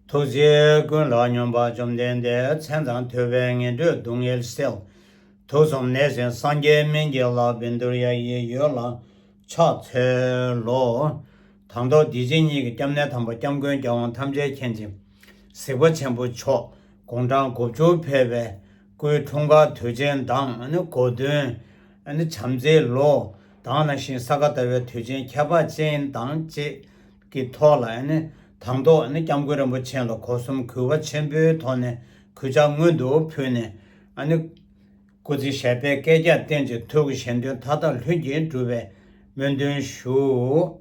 ཐུགས་རྗེ་ཀུན་ལ་སྙོམས་པར་བཅོམ་ལྡན་འདས་མཚན་དང་ཐོད་པའི་ངན་འགྲོའི་སྡུག་བསྔལ་སེལ། དུག་གསུམ་གནས་ཟིན་སངས་རྒྱས་སྨིན་གྱི་ལག་པའི་འདུར་ཡ་ཡི་ཡོལ་ལ་ཕྱག་འཚལ་ལོ། དང་ཐོག་བདེ་ཆེན་གཉིས་ཀྱི་སྐྱབས་གནས་དམ་པ་སྐྱབས་མགོན་རྒྱལ་དབང་ཐམས་ཅད་མཁྱེན་བརྩེ་གཟིགས་པ་ཆེན་པོ་མཆོག་དགུང་གྲངས་དགུ་བཅུར་ཕེབས་པའི། སྐུའི་འཁྲུངས་སྐར་དུས་ཆེན་དང་གོ་སྟོན། བྱམས་བརྩེའི་ལོ། དང་ནང་བཞིན་ས་ག་ཟླ་བའི་དུས་ཆེན་ཁྱད་འཕགས་ཅན་དང་བཅས་ཀྱི་ཐོག་ལ། དང་ཐོག་སྐྱབས་མགོན་རིན་པོ་ཆེ་ལ་གོ་གསུམ་གུས་པ་ཆེན་པོའི་ཐོག་ནས་གུས་ཕྱག་སྔོན་དུ་ཕུལ་ནས། སྐུ་ཚེ་ཞབས་པད་བསྐལ་བརྒྱར་བརྟན་ཅིང་ཐུགས་ཀྱི་གཞན་དོན་མཐའ་དག་ལྷུན་གྱིས་འགྲུབ་པའི་སྨོན་འདུན་ཞུ།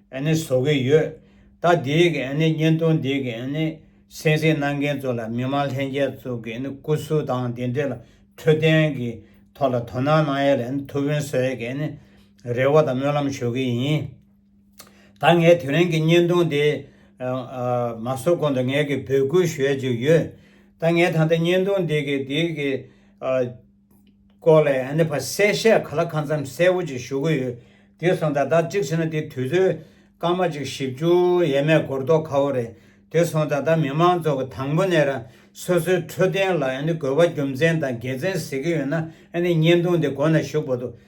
ཨན་ནེ་བཟོ་གི་ཡོད། ད་དེའི་གི་ཨན་ནེ་བརྙན་ཐུང་འདིའི་གི་ཨན་ནེ་གསན་གཟིགས་གནང་མཁན་ཚོ་ལ་མི་མང་ལྷན་རྒྱས་ཚོ་གི་ཨན་ནེ་སྐུ་གཟུགས་དང་དེ་འབྲེལ་འཕྲོད་བསྟེན་གི་ཐོག་ལ་དོ་སྣང་གནང་ཡས་ལ་ཨན་ནེ་ཐུགས་ཕན་གསོ་ཡས་གི་ཨན་ནེ་རེ་བ་དང་སྨོན་ལམ་ཞུ་གི་ཡིན། ད་ངས་དེ་རིང་གི་བརྙན་ཐུང་དེ་མ་བཟོ་གོང་དུ་ངས་གི་འབོད་སྐུལ་ཞུ་ཡས་ཅིག་ཡོད། ད་ངས་ད་ལྟ་བརྙན་ཐུང་འདི་གི་དེའི་གི། སྐོར་ལས་ཨ་ནེ་ཕ་གསལ་བཤད་ག་ལ་གང་འཚམ་གསལ་བོ་ཅིག་ཞུ་གི་ཡོད་དེ་སོང་ད་ད་ཅིག་བྱས་ན་དེ་དུས་ཚོད་སྐར་མ་གཅིག་བཞི་བཅུ་ཡས་མས་གོར་རྟོགས་ཁ་བོ་རེད་དེ་སོང་ད་ད་མི་མང་ཚོགས་ཀྱི་དང་པོ་ནས་ར་སོ་སོའི་འཕྲོད་བསྟེན་ལ་ཨ་ནེ་དགོས་པ་རྒྱུ་མཚན་དང་དགེ་མཚན་ཟེར་གི་ཡོད་ན་ཨ་ནེ་བརྙན་ཐུང་དེ་གོ་ན་ཞུ་གོ་ཐུབ།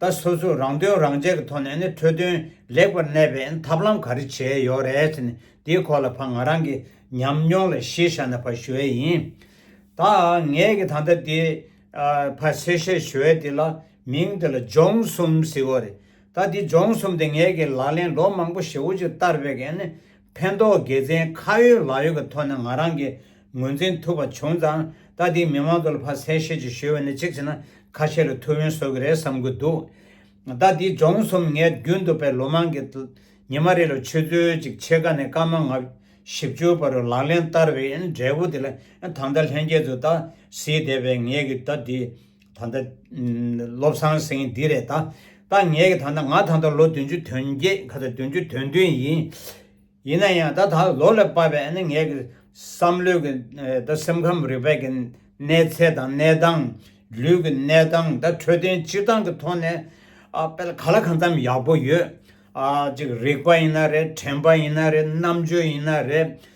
ད་སོ་སོས་རང་དོན་རང་གཅེས་ཀྱི་ཐོག་ནས་ནི་འཕྲོད་བསྟེན་ལེགས་པར་གནས་པའི་ཐབས་ལམ་ག་རེ་བྱས་ཡོད་རེད་ཟེར་ནས་དེའི་ཁོག་ལ་ཕ་ང་རང་གི་ཉམས་མྱོང་ལ་གཞི་བཞག་ནས་ཕ་ཞུ་བས་ཡིན། ད་ངས་ཀྱི་ད་ལྟ་དེ་ཕ་སེ་བཤད་ཞུ་བས་དེ་ལ་མིང་དེ་ལ་སྦྱོང་གསུམ་ཟེར་བ་རེད། ད་དེ་སྦྱོང་གསུམ་དེ་ངས་ཀྱི་ལག་ལེན་ལོ་མང་པོ་ཞེ་བོ་ཅིག་བསྟར་བས་ཀྱི་ནི་ཕན་ཐོགས་དགེ་མཚན་ཁ་ཡོད་ལག་ཡོད་ཀྱི་ཐོག་ནས་ང་རང་གིས་ངོས་འཛིན་ཐུབ་པ་བྱུང་ཙང་ད་ལྟའི་མི་མང་ཚོ་ལ་ཕ་གསལ་བཤད་ཅིག་ཞུས་པ་ནི་གཅིག་བྱས་ན་ཁ་ཤས་ལ་ཐུགས་ཡོན་གསོ་གི་རེད་བསམ་གི་འདུག་ད་ལྟའི་སྦྱོང་གསུམ་ངས་རྒྱུན་དུ་པའི་ལོ་མང་གི་ཉི་མ་རེ་ལ་ཆུ་ཚོད་གཅིག་ཕྱེད་ཀ་ནས་སྐར་མ་ལྔ་བཞི་བཅུ་བར་ལག་ལེན་བསྟར་བའི་འབྲས་བུ་དེ་ལ་ད་ལྟ་ལྷན་རྒྱས་ཚོས་ད་གཟིགས་བསྡད་པའི་ངེད་ཀྱི་ད་ལྟའི་ད་ལྟ་བློ་བཟང་སེང་འདི་རེད་ད་ད་ངས་ཀྱི་ད་ད་ང་ད་ལྟ་ལོ་བདུན་ཅུ་དོན་བརྒྱད་ཁ་ཚ་བདུན་ཅུ་དོན་བདུན་ཡིན། ཡིན་ན་ཡང་ད་ད་ལོ་ལ་དཔག་པའི་ནི་ངས་ཀྱི་བསམ་བློའི་ཀྱི་ད་སེམས་ཁམས་རིག་པའི་ཀྱི་གནས་ཚད་དང་གནས་སྟངས། ལུས་ཀྱི་གནས་སྟངས་ད་འཕྲོད་བསྟེན་སྤྱི་སྟངས་ཀྱི་ཐོག་ནས་ཨ་དཔེ་ལ་ག་ལ་གང་ཙམ་ཡག་པོ་ཡོད། ཨ་ཅིག་རིག་པ་ཡིན་ན་རེད་དྲན་པ་ཡིན་ན་རེད་རྣམ་དཔྱོད་ཡིན་ན་རེད་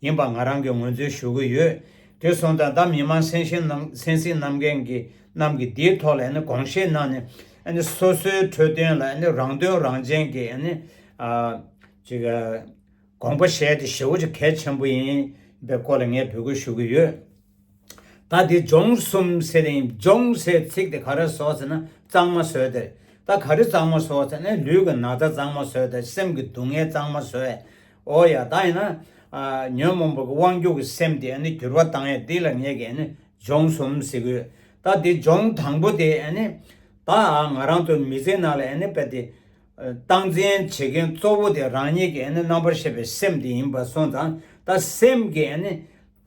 ཡིན་པ་ང་རང་གིས་ངོས་འཛིན་ཞུ་གི་ཡོད། དེ་སོང་ད་ད་མི་མང་སེམས་ཤེས་སེམས་གསིང་གནང་མཁན་རྣམས་ཀྱིས་དེའི་ཐོག་ལ་དགོངས་བཞེས་གནང་ནས་སོ་སོའི་འཕྲོས་དོན་ལ་རང་དོན་རང་བྱན་གྱི་དགོངས་པ་བཞེས་ཏེ་ཞེ་བོ་ཅིག་གལ་ཆེན་པོ་ཡིན་པའི་སྐོར་ལ་ངས་འབོད་སྐུལ་ཞུ་གི་ཡོད། ད་དེ་སྦྱོང་གསུམ་ཟེར་རིང་སྦྱོང་ཟེར་ཚིག་དེ་ག་རེ་བཟོ་ཟེར་ན་གཙང་མ་བཟོས་དེར་ད་ག་རེ་གཙང་མ་བཟོ་ཟེར་ན་ལུས་ཀྱི་ན་ཚ་གཙང་མ་བཟོས་དེར་སེམས་ཀྱི་སྡུག་བསྔལ་གཙང་མ་བཟོས་ཨོ་ཡ་ད་ཡིན་ན། ཉོན་མོངས་པ་གི་དབང་སྒྱུར་གྱི་སེམས་དེ་འགྱུར་བ་བཏང་ཡ་འདི་ལ་ངས་ཀྱི་སྦྱོང་གསུམ་ཟེར་གི་ཡོད་ད་དེ་སྦྱོང་དང་པོ་དེ་ད་ང་རང་ཚོ་མི་ཚེ་ནང་ལ་དཔེ་དེ་སྟངས་འཛིན་བྱེད་མཁན་གཙོ་བོ་དེ་རང་ཉིད་ཀྱི་རྣམ་པར་ཤེས་པའི་སེམས་དེ་ཡིན་པ་སོང་ཙང་ད་སེམས་ཀྱི།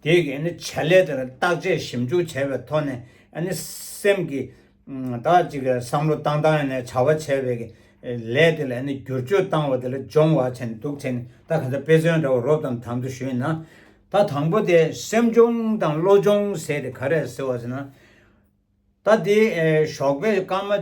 དེ་གའི་བྱ་ལས་དེར་བརྟག་དཔྱད་ཞིབ་འཇུག་བྱས་པའི་ཐོག་ནས་སེམས་ཀྱི་དག་ཅིག་བསམ་བློ་བཏང་བཏང་ནས་བྱ་བ་བྱས་པའི་ལས་དེ་ལ་བསྒྱུར་བཅོས་བཏང་བ་དེ་ལ་སྦྱོང་བ་བྱས་འདུག་བྱས་ནས་ད་ག་ཚོད་དཔེ་མཚོན་འདྲ་བོ་རོབ་དང་དམ་དུ་ཞུས་ན། ད་དང་པོ་དེ་སེམས་སྦྱོང་དང་བློ་སྦྱོང་ཟེར་དེ་ག་རེད་ཟེར་བ་ཟེར་ན། ད་དེ་ཞོགས་པའི་སྐར་མ།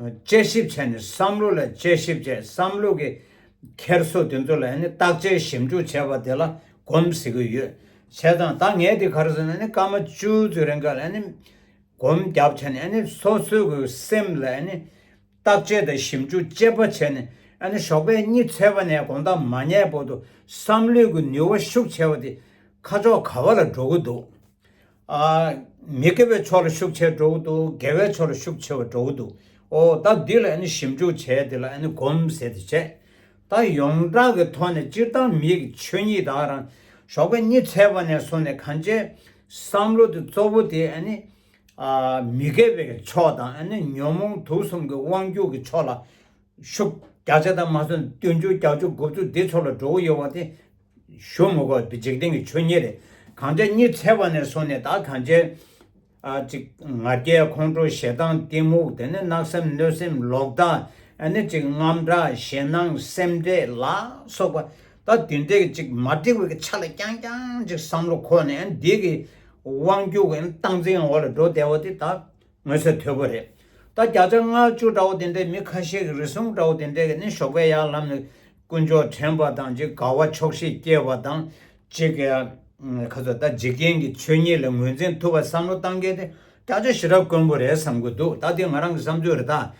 དཔྱད་ཞིབ་བྱས་ནས་བསམ་བློ་ལ་དཔྱད་ཞིབ་བྱས་བསམ་བློ་གི་འཁྱེར་སོ་དེ་ཚོ་ལ་ཡང་ནི་བརྟག་དཔྱད་ཞིབ་འཇུག་བྱས་པ་དེ་ལ་གོམས་ཟེར་གྱི་ཡོད། བྱས་ཙང་ད་ངས་དེ་གར་སོང་ནས་ནི་སྐར་མ་བཅུ་ཚོའི་རིང་ག་ལ་ཡང་ནི་གོམས་བརྒྱབ་བྱས་ནས་ཡང་ནི་སོ་སོའི་གི་སེམས་ལ་ཡང་ནི་བརྟག་དཔྱད་དང་ཞིབ་འཇུག་དཔྱད་པ་བྱས་ནས་ཡང་ནི་ཞོགས་པའི་གཉིད་ཚལ་པ་ནས་དགོང་དག་མ་ཉལ་བར་དུ་བསམ་བློའི་གི་ནུས་བ་ཤུགས་ཆེ་བ་དེ་ཁ་ཕྱོགས་ག་བ་ལ་འགྲོ་གི་འདུག་མི་དགེ་བའི་ཕྱོགས་ལ་ཤུགས་ཆེ་བྲོ་བོ་འདུག་དགེ་བའི་ཕྱོགས་ལ་ཤུགས་ཆེ་བ་བྲོ་བོ་འདུག་ཨོ་ད་འདི་ལ་ཞིབ་འཇུག་བྱས་འདི་ལ་གོམ་ཟེ་དེ་བྱས། ད་ཡོངས་གྲགས་ཀྱི་ཐོག་ནས་སྤྱིར་བཏང་མི་གི་ཆོས་ཉིད་དག་རང་ཞོགས་པའི་གཉིད་ཚལ་བ་ནས་སོང་ནས་གང་བྱས། བསམ་བློ་དེ་གཙོ་བོ་དེ་མི་དགེ་བའི་ཕྱོགས་དང་ཉོན་མོངས་དུག་གསུམ་གི་དབང་སྒྱུར་གྱི་ཕྱོགས་ལ་ཤུགས་རྒྱ་ཆེ་དང་མ་སོན་བསྟུན་བཅུ་བརྒྱ་བཅུ་དགུ་བཅུ་འདི་ཚོ་ལ་བྲོ་བོ་ཡོད་བ་དེ་ཞོ་མོ་བ་འདི་འཇིག་རྟེན་གྱི་ཆོས་ཉིད་རེད། གང་ཅག་གཉིད་ཚལ་བ་ནས་སོང་ནས་ད་གང་བྱས། ཨ་ཅིག་ང་རྒྱལ་ཁོང་ཁྲོ་ཞེ་སྡང་གཏི་མུག་དེ་ནི་གནག་སེམས་གནོད་སེམས་ལོག་ལྟ་ཨ་ནི་ཅིག་རྔམ་དྲག་ཞེ་སྣང་སེམས་འདྲེ་ལ་སོགས་པ་ད་དུས་འདྲེ་གི་ཅིག་མ་དྲེ་བའི་གི་ཆ་ལ་རྐྱང་རྐྱང་ཅིག་བསམ་བློ་ཁོ་ནས་འདི་གི་དབང་རྒྱུ་གི་སྟངས་འཛིན་འོག་ལ་འགྲོ་བདེ་བ་དེ་ད་དངོས་གསལ་དོད་པོ་རེད། ད་བརྒྱ་ཆ་ལྔ་བཅུ་འདྲ་བོ་དེ་འདྲས་མི་ཁ་ཤས་གི་རི་སྲུང་འདྲ་བོ་དེ་འདྲས་གི་ནི་ཞོགས་པའི་ཡར་ལམ་ནས་དཀོན་མཆོག་དྲན་པ་དང་ཅི་དགའ་བ་ཆོག་ཤེས་སྐྱེ་བ་དང་ཅི་དགའ་ཁ་ཟོ་ད་འཇིག་རྟེན་གྱི་ཆོས་ཉིད་ལ་ངོས་འཛིན་ཐུབ་པ་བསམ་བློ་གཏང་མཁན་དེ་སྐྱག་ཆ་ཞེ་དྲག་དཀོན་པོ་རེད་བསམ་གི་འདུག་ད་དེ་ང་རང་གི་བསམ་ཚུལ་རེད་ད།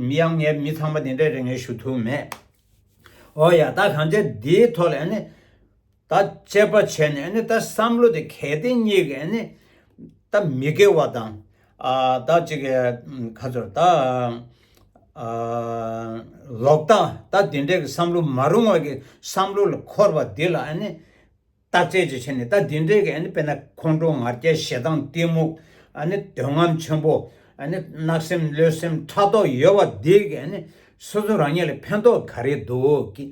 མི་ཡང་ངས་མི་ཚང་མ་དེ་འདྲའི་རེ་ངན་ཞུ་ཐུབ་མེད། འོ་ཡ་ད་གང་ལྕགས་འདིའི་ཐོག་ལ་ཡང་ནི། ད་དཔྱད་པ་བྱས་ནས་ཨ་ནི་ད་བསམ་བློ་དེ་གལ་ཏེ་གཉིས་ཀ་ཨ་ནི་ད་མི་དགེ་བ་དང་ད་ཅིག་ཁ་ཚོར་ད་ལོག་ལྟ་ད་དེ་འདྲའི་བསམ་བློ་མ་རུང་བ་གི་བསམ་བློ་ལ་འཁོར་བ་དེ་ལ་ཨ་ནི་བརྟག་དཔྱད་ཅིག་བྱས་ནས་ད་དེ་འདྲའི་གི་ཨ་ནི་དཔེར་ན་ཁོང་ཁྲོ་ངར་སྐྱེ་ཞེ་སྡང་གཏི་མུག་ཨ་ནི་འདོད་རྔམ་ཆེན་པོ་ཨ་ནི་གནག་སེམས་བློས་སེམས་ཕྲག་དོག་ཡོད་བ་དེ་གི་ཨ་ནི་སོ་སོ་རང་ཉིད་ལ་ཕན་ཐོག་ག་རེ་འདུག་གི།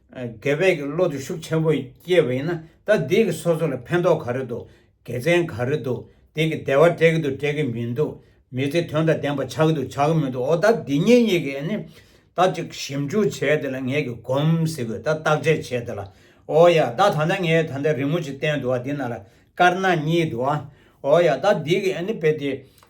དགེ་བས་ཀྱི་བློ་དུ་ཤུགས་ཆེན་པོ་སྐྱེས་པ་ཡིན་ན་ད་འདིས་ཀྱི་སོ་སོ་ལ་ཕན་ཐོག་ག་རེ་འདུག་དགེ་མཚན་ག་རེ་འདུག་འདིས་ཀྱི་བདེ་བ་སྤྲད་ཀྱི་འདུག་སྤྲད་ཀྱི་མི་འདུག་མི་ཚེ་དོན་དང་ལྡན་པ་ཆགས་ཀྱི་འདུག་ཆགས་ཀྱི་མི་འདུག་འོ་ད་འདི་གཉིས་གཉིས་ཀྱི་ནི་ད་ཅིག་ཞིབ་འཇུག་བྱས་དེ་ལ་ངས་ཀྱི་སྒོམ་ཟེར་དགོས་ད་བརྟག་དཔྱད་བྱས་དེ་ལ་འོ་ཡ་ད་ད་ལྟ་ངས་ད་ལྟ་རི་མོ་ཅིག་བསྟན་འདུག་ཨ་འདི་ན་ལ་དཀར་ནག་གཉིས་འདུག་ཨ་འོ་ཡ་ད་འདིས་ཀྱི་ནི་དཔེ་དེ་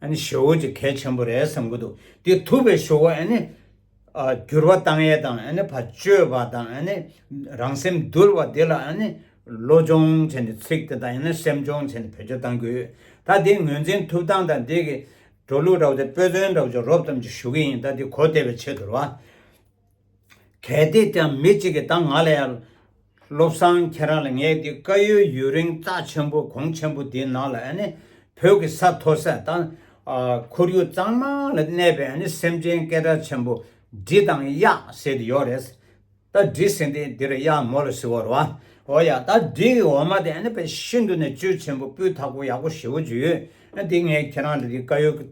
ཨ་ནི་ཞོ་བོ་ཅིག་གལ་ཆེན་པོ་རེད་བསམ་གྱི་འདུག་དེ་ཐུབ་པའི་ཞོ་བོ་ཨ་ནི། འགྱུར་བ་བཏང་ཡས་དང་ཨ་ནི་བ་ཅོས་པ་དང་ཨ་ནི། རང་སེམས་འདུལ་བ་དེ་ལ་ཨ་ནི། བློ་སྦྱོང་བྱས་ནས་ཚིག་དེ་དང་ཡང་ན་སེམས་སྦྱོང་བྱས་ནས་བེད་སྤྱོད་བཏང་དགོས། ད་དེ་ངོས་འཛིན་ཐུབ་སྟངས་དང་དེ་གི། འགྲོ་ལུགས་འདྲ་བོ་དེ་དཔེ་མཚོན་འདྲ་བོ་ཅིག་རོབ་ཙམ་ཅིག་ཞུ་གི་ཡིན་ད་དེ་གོ་བདེ་བའི་ཆེད་དུ་རེད་བ། གལ་ཏེ་དེའང་མི་གཅིག་གིས་ད་ང་ལ་ཡར། བློ་བཟང་ཁྱེད་རང་ལ་ངས་འདི་བཀའ་ཡོད་ཡུན་རིང་རྟགས་ཆེན་པོ་གོང་ཆེན་པོ་འདིའི་ནང་ལ་བོད་ཀྱི་ས་མཐོ་ས་དང། ཁོར་ཡུག་གཙང་མ་ལ་གནས་པའི་སེམས་ཅན་སྐད་སྒྲ་ཆེན་པོ་འབྲི་དང་གཡག་ཟེར་དེ་ཡོད་རེད། ད་འབྲི་ཟེར་འདི་འདིར་གཡག་མོ་ལ་ཟེར་བར་བ། འོ་ཡ་ད་འདི་ཡི་འོ་མ་དེ་བས་ཤིན་ཏུ་ནས་བཅུད་ཆེན་པོ་སྤུས་དག་པོ་ཡག་པོ་ཞེ་བོ་ཅིག་ཡོད། འདི་ངས་ཁྱེད་རང་ལ་འདི་བཀའ་ཡོད།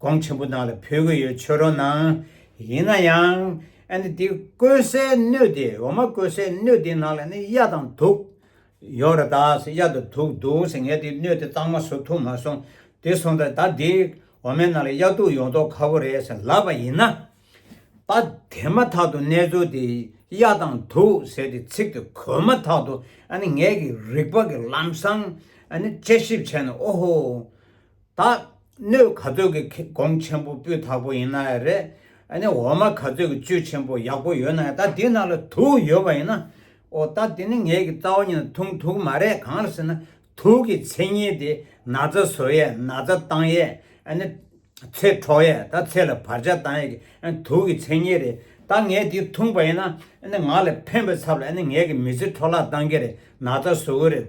གོང་ཆེན་པོ་ནང་ལ་ཕུལ་གྱི་ཡོད་ཆོས་རོ་ནང་ཡིན་ན་ཡང་ཨ་ནི་དེ་བཀོལ་སའི་སྣོད་དེ་འོ་མ་བཀོལ་སའི་སྣོད་དེ་ནང་ལ་ནི་གཡའ་དང་དུག་ཡོད་རེད་ད་ཟེར་གཡའ་དང་དུག་འདུག་ཟེར་ངས་དེ་སྣོད་དེ་གཙང་མ་བཟོ་ཐུབ་མ་སོང་དེ་སོང་ད་ད་དེ་འོ་མའི་ནང་ལ་གཡའ་དུག་ཡོང་མདོག་ཁ་བོ་རེད་ཟེར་ལབ་པ་ཡིན་ན། ད་དེ་མ་ཐག་ཏུ་གནས་ཚུལ་དེ་གཡའ་དང་དུག་ཟེར་དེ་ཚིག་དེ་གོ་མ་ཐག་ཏུ་ཨ་ནི་ངས་ཀྱི་རིག་པ་ཀྱི་ལམ་སང་ཨ་ནི་དཔྱད་ཞིབ་བྱས་ན་ཨོ་ཧོ། ད་སྣོད་ག་ཚོད་ཀྱི་གོང་ཆེན་པོ་སྤུས་དག་པོ་ཡིན་ན་ཡང་རེད། ཨ་ནི་འོ་མ་ག་ཚོད་ཀྱི་བཅུད་ཆེན་པོ་ཡག་པོ་ཡོད་ན་ཡང་ད་དེའི་ནང་ལ་དུག་ཡོད་པ་ཡིན་ན། ཨོ་ད་དེ་ནི་ངེད་ཀྱི་རྩ་བ་ཉིད་ན་དུང་དུག་མ་རེད་གང་ལ་ཟེར་ན་དུག་གི་མཚན་ཉིད་དེ་ན་ཚ་བཟོ་ཡས་ན་ཚ་བཏང་ཡས་ཨ་ནི། ཚེ་འཕྲོག་ཡས་ད་ཚེ་ལ་བར་ཆད་བཏང་ཡས་ཀྱི་ཨ་ནི་དུག་གི་མཚན་ཉིད་རེད། ད་ངས་དེ་འཐུངས་པ་ཡིན་ན་ཨ་ནི་ང་ལ་ཕན་པའི་ཚབ་ལ་ཨ་ནི་ངེད་ཀྱི་མི་ཚེ་འཕྲོ་བརླག་བཏང་གི་རེད་ན་ཚ་བཟོ་གི་རེད།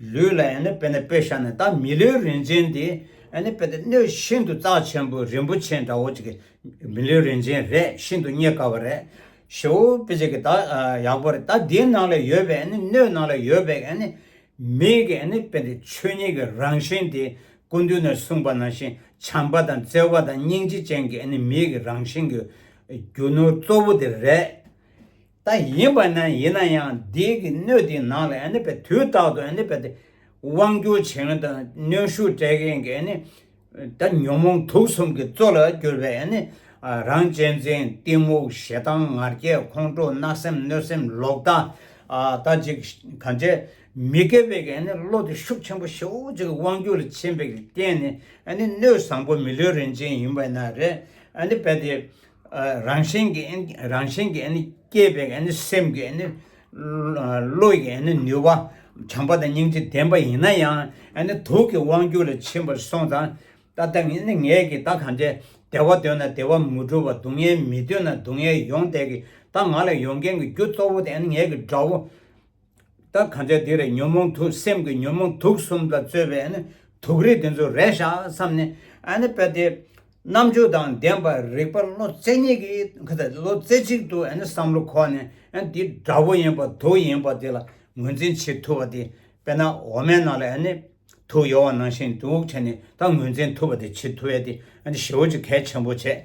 ལུས་ལ་ཡང་ན་དཔེར་ན་པད་ཤག་ནི་ད་མི་ལུས་རིན་ཆེན་དེ་ཡང་ན་དཔེར་ན་སྣོད་ཤིན་ཏུ་རྩ་ཆེན་པོ་རིན་པོ་ཆེ་འདྲ་བོ་ཅིག་གི་མི་ལུས་རིན་ཆེན་རེད་ཤིན་ཏུ་རྙེད་དཀའ་བ་རེད། ཞེ་བོ་དཔེ་ཅིག་གི་ད་ཡག་པོ་རེད་ད་དེའི་ནང་ལ་ཡོད་པའི་ཡང་ན་སྣོད་ནང་ལ་ཡོད་པའི་ཡང་ན་མིག་གི་ཡང་ན་དཔེར་ན་ཆོས་ཉིད་ཀྱི་རང་བཞིན་དེ་ཀུན་འདུས་ནས་གསུངས་པ་ནང་བཞིན་བྱམས་པ་དང་བརྩེ་བ་དང་སྙིང་རྗེ་ཅན་གྱི་ཡང་ན་མིག་གི་རང་བཞིན་གྱི་རྒྱུ་ནོར་གཙོ་བོ་དེ་རེད། ད་ཡིན་པ་ན་ཡིན་ན་ཡང་འདི་གི་སྣོད་དེའི་ནང་ལ་ནི་པའི་དུས་རྟག་ཏུ་ནི་པའི་དབང་བསྒྱུར་བྱེད་མཁན་དང་གནོན་ཤུགས་སྤྲད་མཁན་གྱི་ནི་ད་ཉོན་མོངས་དུག་གསུམ་གྱི་གཙོ་ལ་གྱུར་པའི་ནི་རང་གཅེས་འཛིན་གཏི་མུག་ཞེ་སྡང་ངར་སྐད་ཁོང་ཁྲོ་གནག་སེམས་གནོད་སེམས་ལོག་ལྟ་ད་ཅིག་གང་བྱས་མི་དགེ་བའི་གི་ནི་བློ་དེ་ཤུགས་ཆེན་པོ་ཞེའུ་ཅིག་དབང་བསྒྱུར་ལ་ཕྱིན་པའི་གི་རྟེན་ནི་ནི་སྣོད་བཟང་པོ་མི་ལུས་རིན་ཆེན་ཡིན་པས་ན་རེ་ནི་པའི་དེ་རང་བཞིན་གྱི་རང་བཞིན་གྱི་སྐྱེས་པའི་སེམས་ཀྱི་བློ་ཡི་ནུས་པ་བྱམས་པ་དང་སྙིང་རྗེ་ལྡན་པ་ཡིན་ན་ཡང་དུག་གི་དབང་རྒྱུད་ལ་ཕྱིན་པར་སོང་ཙང་ད་ལྟ་ངས་ཀྱི་ད་གང་དྲན་བདེ་བ་འདོད་ན་བདེ་བ་མི་སྒྲུབ་བ་སྡུག་བསྔལ་མི་འདོད་ན་སྡུག་བསྔལ་ཡོང་བསྡད་ཀྱི་ད་ང་ལ་ཡོང་མཁན་གྱི་རྒྱུ་གཙོ་བོ་དེ་ངས་ཀྱི་དགྲ་བོ། ད་གང་ཚེ་དེ་རེད་ཉོན་མོངས་དུག་སེམས་ཀྱི་ཉོན་མོངས་དུག་གསུམ་ལ་རྩོལ་བའི་དུག་རིགས་དེ་ཚོ་རེད་ཤག་བསམ་ནས་དཔེ་དེ་རྣམ་འགྱུར་དང་ལྡན་པ་རིག་པ་བློ་རྩེ་གཉིས་ཀྱིས་བློ་རྩེ་གཅིག་ཏུ་བསམ་བློ་ཁོག་ནས་འདི་དགྲ་བོ་ཡིན་པ་དུག་ཡིན་པ་དེ་ལ་ངོས་འཛིན་བྱེད་ཐུབ་པ་དེ་དཔེར་ན་འོ་མའི་ནང་ལ་དུག་ཡོད་བ་ནང་བཞིན་དུག་བྱས་ནས་ད་ངོས་འཛིན་ཐུབ་པ་དེ་བྱེད་ཐུབ་བས་དེ་ཞེ་བོ་ཅིག་གལ་ཆེན་པོ་བྱས།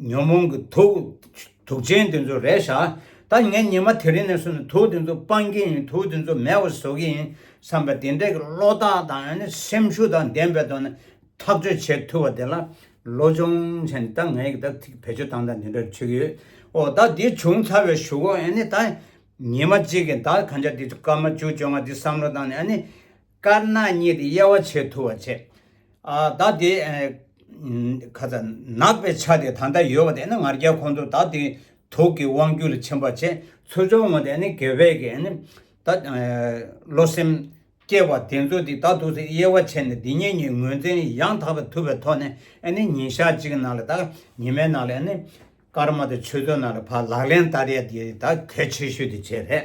ཉོན་མོངས་ཀྱི་དུག་ཅན་དེ་ཚོ་རེ་བཞག་ད་ངས་ཉི་མ་དེ་རིང་ནས་བཟུང་ནས་དུག་དེ་ཚོ་སྤང་གི་ཡིན་དུག་དེ་ཚོ་མེ་བ་བཟོ་གི་ཡིན་བསམ་པ་དེ་འདྲའི་གི་བློ་རྟགས་དང་སེམས་ཤུགས་དང་ལྡན་པའི་ཐོག་ནས་ཐག་གཅོད་བྱེད་ཐུབ་པ་དེ་ལ་བློ་སྦྱོང་བྱས་ནས་ད་ངས་ད་བེད་སྤྱོད་དང་ད་འདི་འདྲ་བྱེད་གི་ཡོད་ཨོ་ད་འདི་བྱུང་ཚར་བའི་ཞུ་གོ་ཨ་ནི་ད་ཉི་མ་གཅིག་གི་ད་གང་ཆག་འདི་སྐར་མ་བཅུ་བཅོ་ལྔ་འདི་བསམ་བློ་བཏང་ནས་ཨ་ནི་དཀར་ནག་གཉིས་ཀྱི་དབྱེ་བ་ཆེས་ཐུ་བར་བྱས། བདག་དེ། ཁ་ཚ། ནག་པའི་ཆ་དེ་ད་ལྟ་ཡོད་པ་དེ་ནི་ང་རྒྱལ་ཁོང་ཚོ་བདག་དེའི་དུག་གི་དབང་རྒྱུ་ལ་ཕྱིན་པར་བྱས། ཚུར་སྦྱོང་ངོ་དེ་ནི་དགེ་བས་ཀྱི། བདག། བློ་སེམས། སྐྱེ་བ་དེ་ཚོ་དེ་དག་དུག་སེལ་དབྱེ་བ་ཕྱེ་ནས་དེ་གཉིས་གཉིས་ངོས་འཛིན་ཡང་དག་པ་ཐུབ་པའི་ཐོག་ནས་ཉིན་ཞག་གཅིག་གི་ནང་ལ་དང་ཉི་མའི་ནང་ལ། སྐར་མ་དང་ཆུ་ཚོད་ནང་ལ་བར་ལག་ལེན་བསྟར་ཡ་དེ་དག་གལ་ཆེ་ཤོས་དེ་བྱས་རེད།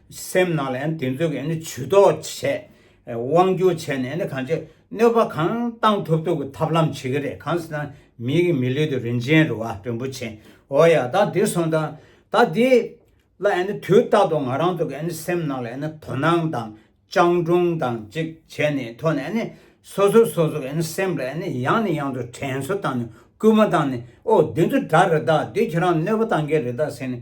སེམས་ནང་ལ་དེ་ཚོ་གི་ཇུས་གཏོགས་བྱས། དབང་བསྒྱུར་བྱས་ནས་གང་ཅིག་གནོད་པ་གང་བཏང་ཐུབ་ཐུབ་ཀྱི་ཐབས་ལམ་བྱེད་ཀྱི་རེད་གང་ཟེར་ན་མི་གི་མི་ལུས་དེ་རིན་ཆེན་རེད་བ་རིན་པོ་ཆེ་འོ་ཡ་ད་དེ་སོང་ད་ད་དེ་ལ་དུས་རྟག་ཏུ་ང་རང་ཚོ་གི་སེམས་ནང་ལ་དོ་སྣང་དང་སྤྱང་གྲུང་དང་ཅིག་བྱས་ནས་ཐོག་ནས་སོ་སོ་སོ་སོ་གི་སེམས་ལ་ཡང་ནས་ཡང་དུ་དྲན་གསོ་བཏང་ནས་སྐུལ་མ་བཏང་ནས་ཨོ་དེ་ཚོ་དྲ་རེད་ད་དེ་ཁྱེད་རང་གནོད་པ་བཏང་གི་རེད་ད་ཟེར་ནས།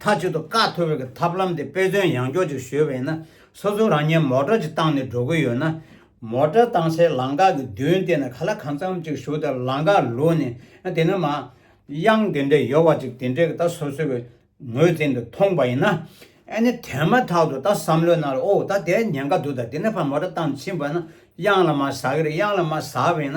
མཐའ་གཅིག་ཏུ་བཀའ་ཐོབ་རིགས་ཀྱི་ཐབས་ལམ་དེ་དཔེ་མཚོན་ཡང་འཇོག་ཅིག་ཞུས་པ་ཡིན་ན་སོ་སོ་རང་ཉིད་མོ་དྲ་ཅིག་བཏང་ནས་འགྲོ་གི་ཡོད་ན། མོ་དྲ་བཏང་སའི་ལམ་འགག་གི་མདུན་དེ་ན་ག་ལ་གང་འཚམ་ཅིག་བཞུགས་ཏེ་ལམ་འགག་ལུས་ནས་དེ་ནས་མ། དབྱངས་དེ་འདྲའི་ཡོལ་བ་ཅིག་དེ་འདྲའི་ད་སོ་སོའི་གི་ངོས་ཟིན་དུ་མཐོང་པ་ཡིན་ན། ཨེ་ནི་དེ་མ་ཐག་ཏུ་ད་བསམ་བློའི་ནང་ལ་ཨོ་ད་དེ་ཉེན་ཁ་འདུག་ད་དེ་ནས་ཕར་མོ་དྲ་བཏང་ཕྱིན་པ་ན་དབྱངས་ལ་མ་ཟ་གི་རེད་དབྱངས་ལ་མ་ཟ་བས་ན།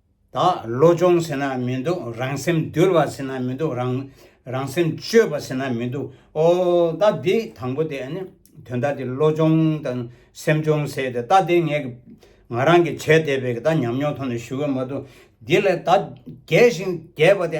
དག་བློ་སྦྱོང་ཟེར་ན་མི་འདུག་རང་སེམས་འདུལ་བ་ཟེར་ན་མི་འདུག་རང་རང་སེམས་བཅོས་པ་ཟེར་ན་མི་འདུག་ཨོ་ད་འདི་དང་པོ་དེ་དོན་དག་དེ་བློ་སྦྱོང་དང་སེམས་སྦྱོང་ཟེར་དེ་ད་དེ་ངས་ང་རང་གིས་བྱས་བསྡད་པའི་ད་ཉམས་མྱོང་ཐོག་ནས་ཞུ་གི་མ་འདུག་འདི་ལས་ད་རྒས་ཤིང་རྒས་པ་དེ་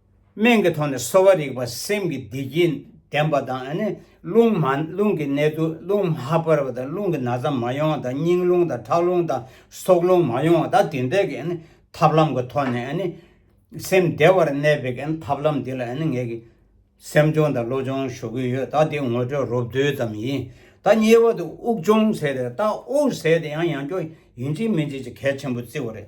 སྨན་གྱི་ཐོག་ནས་གསོ་བ་རིག་པ་སེམས་ཀྱི་བདེ་སྐྱིད་ལྡན་པ་དང། རླུང་མ་རླུང་གི་ནད་དུ་རླུང་མ་འབར་བ་དང་རླུང་གི་ན་ཚ་མ་ཡོང་བ་དང་སྙིང་རླུང་དང་ཁྲག་རླུང་དང་སྲོག་རླུང་མ་ཡོང་བ་དང་དེ་འདྲ་གི་ཐབས་ལམ་གྱི་ཐོག་ནས་སེམས་བདེ་བར་གནས་པའི་ཐབས་ལམ་འདི་ལ་ངས་ཀྱི་སེམས་སྦྱོང་དང་བློ་སྦྱོང་ཞུ་གི་ཡོད་ད་དེ་ངོ་སྤྲོད་རོབ་རྡོལ་ཙམ་ཡིན་ད་ཉེ་བར་དུ་དབུགས་སྦྱོང་ཟེར་རེད་ད་དབུགས་ཟེར་དེ་ཡང་ཡང་སྐྱོ་ཡིན་གཅིག་མིན་གཅིག་གི་གལ་ཆེན་པོ་བརྩི་བ་རེད་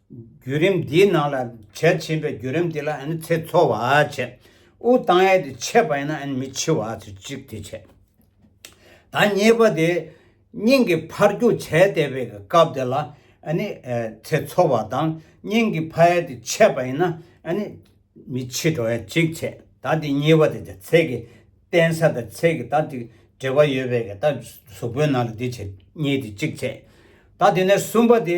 བརྒྱུད་རིམ་འདིའི་ནང་ལ་གལ་ཆེན་པའི་བརྒྱུད་རིམ་དེ་ལ་ཚེ་འཚོ་བ་བྱེད། དབུགས་བཏང་ཡས་དེ་ཆད་པ་ཡིན་ན་མི་འཆི་བ་ཚེ་གཅིག་དེ་བྱེད། ད་གཉིས་པ་དེ་སྙིང་གི་འཕར་རྒྱུག་བྱས་བསྡད་པའི་སྐབས་དེ་ལ་ཚེ་འཚོ་བ་དང་སྙིང་གི་འཕར་ཡས་དེ་ཆད་པ་ཡིན་ན་མི་འཆི་བ་ཡས་གཅིག་བྱེད། ད་དེ་གཉིས་པ་དེ་ཚེ་གི་བརྟན་ས་དང་ཚེ་གི་ད་དེ་འབྲེལ་བ་ཡོད་པའི་ད་གཟུགས་པོའི་ནང་ལ་དེ་བྱེད་གཉིས་དེ་གཅིག་བྱེད། ད་དེ་ནས་གསུམ་པ་དེ།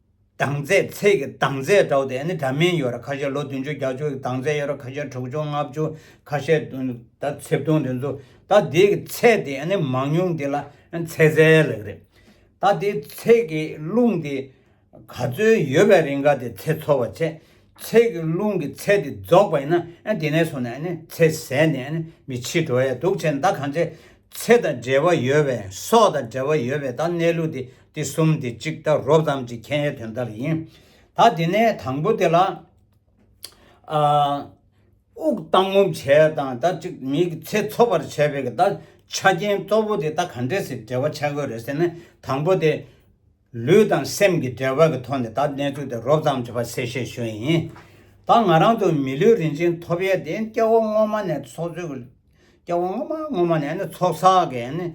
དང་རྩེ་ཚེས་ཀྱི་དང་རྩེ་དྲ་བོ་དེ་ནི་དྲ་མིང་ཡོད་ར་ཁ་ཤས་ལོ་བདུན་ཅུ་བརྒྱ་ཅུ་ཡི་དང་རྩེ་ཡོད་ར་ཁ་ཤས་དྲུག་ཅུ་ལྔ་བཅུ་ཁ་ཤས་དུང་ད་ཚེབ་དུང་དེ་ཚོ་ད་དེའི་གི་ཚེས་དེ་ནི་མང་ཉུང་དེ་ལ་ཚེ་རྫས་ལགས་རེད། ད་དེའི་ཚེས་ཀྱི་རླུང་དེ་ག་ཚོད་ཡོད་པའི་རིང་ག་དེ་ཚེ་འཚོ་བ་བྱེད། ཚེས་ཀྱི་རླུང་གི་ཚེ་དེ་རྫོགས་པ་ཡིན་ན་དེ་ནས་བཟུང་ནས་ཚེ་ཟད་ནས་མི་འཆི་འགྲོ་ཡ་འདུག་ཚེ་མདའ་གང་ཚེ་ཚེ་དང་འབྲེལ་བ་ཡོད་པའི་སྲོག་དང་འབྲེལ་བ་ཡོད་པའི་ད་གནས་ལུགས་དེ་དེ་གསུམ་དེ་གཅིག་ལྟར་རོ་ཙམ་གྱི་མཁྱེན་ཡས་དོན་ལྟར་ཡིན། ད་དེ་ནས་དང་པོ་དེ་ལ། དབུགས་བཏང་ངོམ་བྱས་དང་ད་གཅིག་མིག་གི་ཚེ་འཚོབ་པར་བྱས་པའི་ད་ཆ་རྐྱེན་གཙོ་བོ་དེ་ད་ག་འདྲེ་སི་འབྲེལ་བ་ཆགས་ཡོད་རེད་ཟེར་ན་དང་པོ་དེ། ལུས་དང་སེམས་ཀྱི་འབྲེལ་བ་གི་ཐོག་ནས་ད་གནས་ཚུལ་དེ་རོབ་ཙམ་གྱི་བར་གསལ་བཤད་ཞུ་ཡི་ཡིན། ད་ང་རང་ཚོ་མི་ལུས་རིན་ཆེན་ཐོབ་ཡས་དེ་སྐྱེ་བོ་སྔོན་མ་ནས་ཚོགས་ཚོད་ཀྱི། སྐྱེ་བོ་སྔོན་མ་སྔོན་མ་ནས་ནི་ཚོགས་བསགས་ཀྱི་ནི།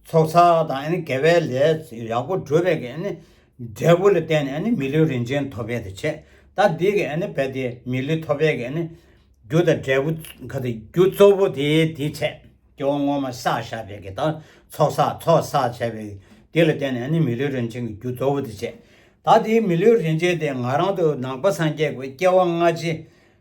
ཚོགས་བསགས་དང་དགེ་བའི་ལས་ཡག་པོ་སྒྲུབ་པའི་འབྲས་བུ་ལ་བརྟེན་ནས་མི་ལུས་རིན་ཆེན་ཐོབ་པའི་ཆེད་ད་འདི་གི་བས་ཏེ་མི་ལུས་ཐོབ་པའི་རྒྱུ་དང་འབྲས་བུ་རྒྱུ་གཙོ་བོ་དེའི་དེའི་ཆེད་སྐྱེ་བོ་སྔོན་མ་བསགས་བཞག་པའི་དེ་དག་ཚོགས་བསགས་ཚོགས་བསགས་བྱས་པའི་དེ་ལ་བརྟེན་ནས་མི་ལུས་རིན་ཆེན་གྱི་རྒྱུ་གཙོ་བོ་དེའི་ཆེད་ད་དེའི་མི་ལུས་རིན་ཆེན་དེ་ང་རང་དུ་ནང་པ་སངས་རྒྱས་ཀྱི་སྐྱེ་བ་སྔ་ཕྱི་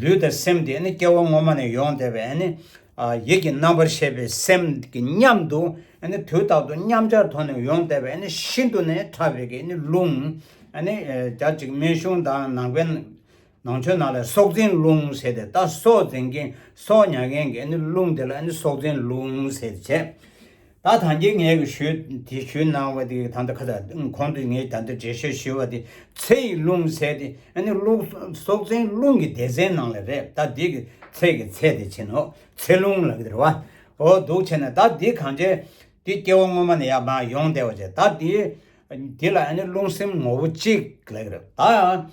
ལུས་དང་སེམས་དེ་ནི་སྐྱེ་བ་སྔོན་མ་ནས་ཡོང་བསྡད་པའི་ཡིད་ཀྱི་རྣམ་པར་ཤེས་པའི་སེམས་ཀྱི་མཉམ་དུ་དུས་རྟག་ཏུ་མཉམ་སྦྱར་དོར་ནས་ཡོང་བསྡད་པའི་ཤིན་ཏུ་ནས་ཕྲ་བའི་རླུང། རྒྱ་གཅིག་སྨན་གཞུང་དང་ནང་པའི་ནང་ཆོས་ནང་ལ་སྲོག་འཛིན་རླུང་ཟེར་ཏེ་ད་སྲོག་འཛིན་མཁན་སྲོག་ཉར་མཁན་གྱི་རླུང་དེ་ལ་སྲོག་འཛིན་རླུང་ཟེར་བྱས། ད་ཐང་ཀྱི་ངས་གི་ཞུ་དེ་ཞུ་གནང་བ་དེ་ཐང་ད་ཁ་ད་ཁོང་དུ་ངས་ད་འདི་འབྲེལ་ཞུ་ཞུ་བ་དེ་ཚེ་ཡི་རླུང་ཚེ་དེ་ཨ་ནི་རླུག་སྲོག་འཛིན་རླུང་གི་སྡེ་ཚན་ནང་ལ་རེད་ད་འདི་གི་ཚེ་གི་ཚེ་དེ་བྱིན་ནོ་ཚེ་རླུང་ལ་གི་རེད་བ་འོ་འདུག་བྱས་ན་ད་འདི་གང་བྱས་འདི་སྐྱེ་བོ་སྔོན་མ་ནས་ཡང་མང་ཡོང་བསྡད་བ་བྱས་ད་འདི་འདི་ལ་ཨ་ནི་རླུང་སེམས་ངོ་བོ་གཅིག་ལ་གི་རེད་ད།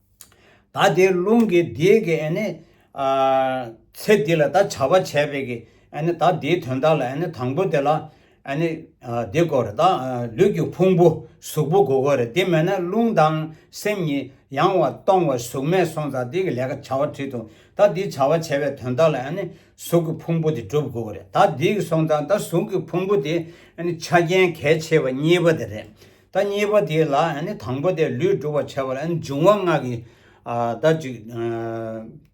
ད་དེ་རླུང་གི་དེ་གི་ཚེ་འདི་ལ་ད་བྱ་བ་བྱས་པས་ཀྱི་ད་དེའི་དོན་དག་ལ་དང་པོ་དེ་ལ་དེ་གོ་རེ་ད་ལུས་ཀྱི་ཕུང་པོ་གཟུགས་པོ་གོ་གོ་རེ་དེ་མེད་ན་རླུང་དང་སེམས་གཉིས་ཡང་བ་སྟོང་བ་གཟུགས་མེད་སོང་ཙང་དེ་གི་ལས་ཀ་བྱ་བ་བྲིས་འདུག་ད་དེ་བྱ་བ་བྱས་པའི་དོན་དག་ལ་གཟུགས་ཀྱི་ཕུང་པོ་དེ་འགྲུབ་གོ་རེ་ད་དེ་གི་སོང་ཙང་ད་གཟུགས་ཀྱི་ཕུང་པོ་དེ་ཆ་རྐྱེན་གལ་ཆེ་བ་གཉིས་པ་དེ་རེད། ད་གཉིས་པ་དེ་ལ་དང་པོ་དེ་ལུས་བསྒྲུབ་པར་བྱ་བ་ལ་འབྱུང་བ་ལྔ་གི་ད་གཅིག་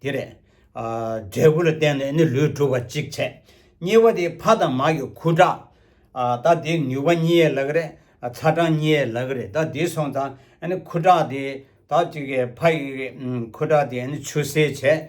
དེ་རེད། འབྲས་བུ་ལ་བརྟེན་ནས་ནི་ལུས་བསྒྲུབ་པ་གཅིག་བྱས། གཉིས་པ་དེ་ཕ་དང་མ་ཡི་ཁུ་ཁྲག་ད་དེ་ནུས་པ་གཉིས་ཡས་ལག་རེད་ཚ་གྲང་གཉིས་ཡས་ལག་རེད་ད་དེ་སོང་ད་ཁུ་ཁྲག་དེ་ད་གཅིག་ཕ་ཡི་ཁུ་ཁྲག་དེ་ཆུ་སེར་བྱས།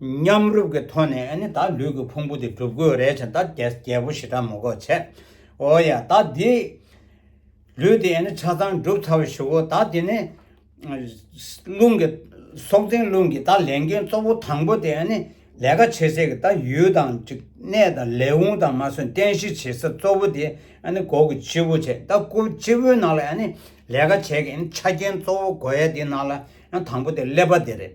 མཉམ་རུབ་ཀྱི་ཐོག་ནས་ཨ་ནི་ད་ལུས་ཀྱི་ཕུང་པོ་དེ་སྒྲུབ་དགོས་རེད་བྱས་ད་རྒྱལ་པོ་ཞེ་དྲག་མོ་གོ་བྱས། ཨོ་ཡ་ད་འདི་ལུས་དེ་ཨ་ནི་ཆ་ཚང་སྒྲུབ་ཚར་བ་ཞིག་ཨོ་ད་དེ་ནི། རླུང་གི། སྲོག་འཛིན་རླུང་གི་ད་ལས་འགན་གཙོ་བོ་དང་པོ་དེ་ཨ་ནི་ལས་ཀ་བྱེད་སའི་གི་ད་ཡུལ་དང་གཅིག་གནས་དང་ལས་དབུང་དང་མ་སོན་རྟེན་གཞི་བྱེད་ས་གཙོ་བོ་དེ་ཨ་ནི་སྒོ་གི་སྤྱི་བོ་བྱས་ད་སྒོ་སྤྱི་བོའི་ནང་ལ་ཨ་ནི་ལས་ཀ་བྱས་ཀྱི་ཨ་ནི་ཆ་རྐྱེན་གཙོ་བོ་སྒོ་ཡ་དེ་ནང་ལ་ཨ་ནི་དང་པོ་དེ་སླེབས་པ་དེ་རེད།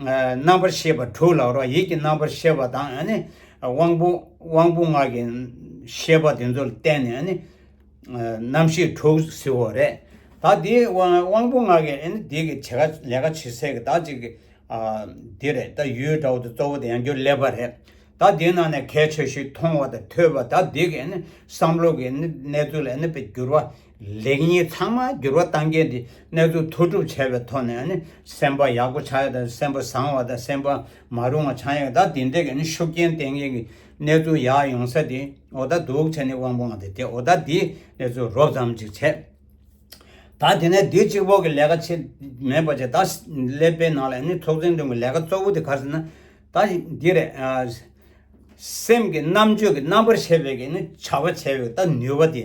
རྣམ་པར་ཤེས་པ་དྲུག་ལ་རོ་ཡིད་ཀྱི་རྣམ་པར་ཤེས་པ་དང་དབང་པོ་དབང་པོ་ངག་གི་ཤེས་པ་དེ་ཚོར་བརྟེན་ནས་རྣམ་ཤེས་དྲུག་བསྲེ་བ་རེད། ད་དེ་དབང་པོ་ངག་གི་དེ་གི་བྱེད་ཀ་ལས་ཀ་བྱེད་སའི་བདག་ཅིག་དེ་རེད་ད་ཡུལ་དྲ་བོ་དེ་གཙོ་བོ་དེ་ཡང་རྒྱུ་ལས་པ་རེད། ད་དེ་ནང་ནས་གལ་ཆེ་ཤོས་མཐོང་བ་དང་ཐོས་པ་ད་དེ་གི་བསམ་བློ་གི་གནས་ཚུལ་ལ་འགྱུར་བ་ལེགས་ཉེས་ཚང་མ་འགྱུར་བ་གཏང་མཁན་དེ་གནས་ཚུལ་མཐོ་སྒྲུབ་བྱས་པའི་ཐོག་ནས་ནི་སེམས་པ་ཡག་པོ་ཆགས་ཡོད་དང་སེམས་པ་བཟང་བ་དང་སེམས་པ་མ་རུང་བ་ཆགས་ཡོད་ད་དེ་འདྲས་ཀྱི་ནི་ཤུགས་རྐྱེན་བསྟེན་མཁན་གྱི་གནས་ཚུལ་ཡག་ཡོང་ས་དེ་འོ་ད་འདུག་བྱས་ནི་དབང་པོ་འང་དེ་དེ་འོ་ད་དེའི་གནས་ཚུལ་རོབ་ཙམ་ཅིག་བྱས་ད་དེ་ནས་དེའི་གཅིག་པོ་གི་ལས་ཀ་ཆེ་མེད་པ་བྱས་ད་ཀླད་པའི་ནང་ལ་ནི་ཚོགས་ཆེན་སྟེང་གི་ལས་ཀ་གཙོ་བོ་དེ་ག་ཟེར་ན་ད་འདི་རེད། སེམས་ཀྱི་རྣམ་དཔྱོད་ཀྱི་རྣམ་པར་ཤེས་པའི་གི་ནི་བྱ་བ་བྱས་ཡོད་ད་ནུས་པ་དེ།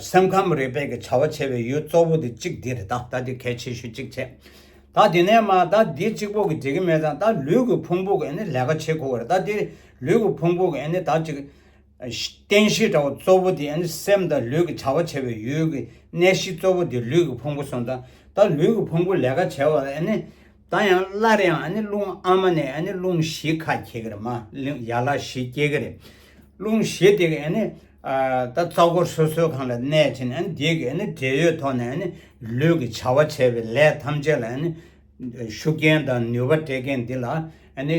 སེམས་ཁམས་རིག་པའི་གི་བྱ་བ་བྱེད་པའི་ཡུལ་གཙོ་བོ་དེ་གཅིག་འདི་རེད་ད་ད་དེ་གལ་ཆེ་ཤོས་གཅིག་བྱས། ད་དེ་ནས་མ་ད་འདི་གཅིག་པོ་གི་བྱེད་གི་མེད་ཙང་ད་ལུས་གི་ཕུང་པོ་གི་ནི་ལས་ཀ་བྱེད་དགོས་རེད་ད་དེ་ལུས་གི་ཕུང་པོ་གི་ནི་ད་གཅིག། རྟེན་གཞི་འདྲ་བོ་གཙོ་བོ་དེ་ནི་སེམས་དང་ལུས་གི་བྱ་བ་བྱེད་པའི་ཡུལ་གི་གནས་གཞི་གཙོ་བོ་དེ་ལུས་གི་ཕུང་པོ་སོང་ཙང་ད་ལུས་གི་ཕུང་པོ་ལས་ཀ་བྱས་བ་ནི། ད་ཡང་སླར་ཡང་ཨ་ནི་རླུང་ཨ་མ་ནས་ཨ་ནི་རླུང་བཞི་ཁ་འཁྱེར་གི་རེད་མ་གླིང་ཡར་ལ་བཞི་སྐྱེ་གི་རེད། རླུང་བཞི་དེ་གི་ཨ་ནི། ད་རྩ་འཁོར་སོ་སོའི་གང་ལ་གནས་བྱས་ནས་ཨ་ནི་དེ་གི་ཨ་ནི་འབྲེལ་ཡོད་ཐོག་ནས་ཨ་ནི་ལུས་ཀྱི་བྱ་བ་བྱས་པའི་ལས་ཐམས་ཅད་ལ་ཨ་ནི། ཤུགས་རྐྱེན་དང་ནུས་པ་སྤྲད་མཁན་འདི་ལ་ཨ་ནི།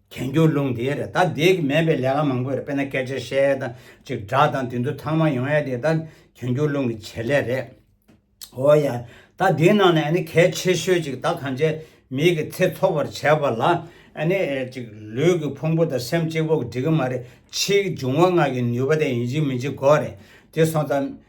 གྱེན་རྒྱུ་རླུང་དེ་རེད་ད་དེ་གི་མེད་པའི་ལས་ཀ་མང་པོ་རེད་དཔེར་ན་སྐད་ཆ་བཤད་དང་ཅིག་སྒྲ་དང་དེ་ཚོ་ཚང་མ་ཡོང་ཡ་དེ་ད་གྱེན་རྒྱུ་རླུང་གི་བྱེད་ལས་རེད། འོ་ཡ། ད་དེའི་ནང་ནས་ནི་གལ་ཆེ་ཤོས་ཅིག་ད་གང་བྱས་མིག་གི་ཚེ་ཚོགས་པར་བྱས་པ་ལ་ནི་ཅིག་ལུས་ཀྱི་ཕུང་པོ་དང་སེམས་གཅིག་པོ་འགྲིག་གི་མ་རེད་ཕྱིའི་འབྱུང་བ་ལྔ་གི་ནུས་པ་དེ་ཡིན་གཅིག་མིན་གཅིག་གོ་རེད་དེ་སོང་ཙང་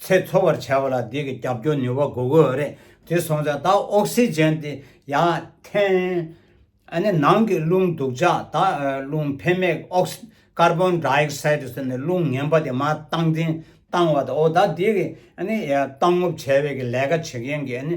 ཚད་འཚོལ་བར་བྱ་བ་ལ་དེ་གི་རྒྱབ་སྐྱོར་ནུས་པ་དགོས་དགོས་རེད། དེ་སོང་ཙང་ད་ཨོག་སི་རྗེན་དེ་ཡང་འཐེན། ཨ་ནི་ནང་གི་རླུང་རྡུག་ཆག་ད་རླུང་འཕེན་མེག་ཨོག་སི་ཀར་བོན་དྲ་ཨེག་སའི་ཏི་སོ་ནི་རླུང་ངན་པ་དེ་མ་བཏང་འཐེན་བཏང་བ་ད་ཨོ་ད་དེ་གི་ཨ་ནི་བཏང་ངོབ་བྱ་བའི་གི་ལས་ཀ་བྱེད་མཁན་གི་ཨ་ནི།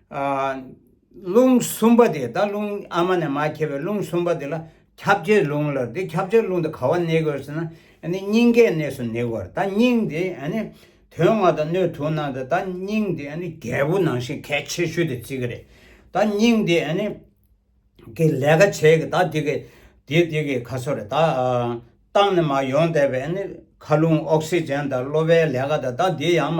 རླུང་གསུམ་པ་དེ་ད་རླུང་ཨ་མ་ནས་མ་ཁྱེར་བའི་རླུང་གསུམ་པ་དེ་ལ་ཁྱབ་བྱའི་རླུང་ལར་འདི་ཁྱབ་བྱའི་རླུང་དེ་ག་བ་ནས་དགོས་ཟེར་ན་སྙིང་གའི་གནས་སུ་ནི་དགོས་ད་སྙིང་དེ་དོན་ལྔ་དང་སྣོད་དྲུག་ནང་དུ་ད་སྙིང་དེ་རྒྱལ་པོ་ནང་བཞིན་གལ་ཆེ་ཤོས་དེ་བརྩི་གི་རེད་ད་སྙིང་དེ་གི་ལས་ཀ་བྱེད་གི་ད་དེ་གི་དེ་དེ་གི་ཁ་སོ་རེད་ད་རྟགས་ནས་མ་ཡོང་བསྡད་པའི་ཁ་རླུང་ཨོག་སི་ཇན་དང་གློ་བའི་ལས་ཀ་དང་ད་དེ་ཡང་མ་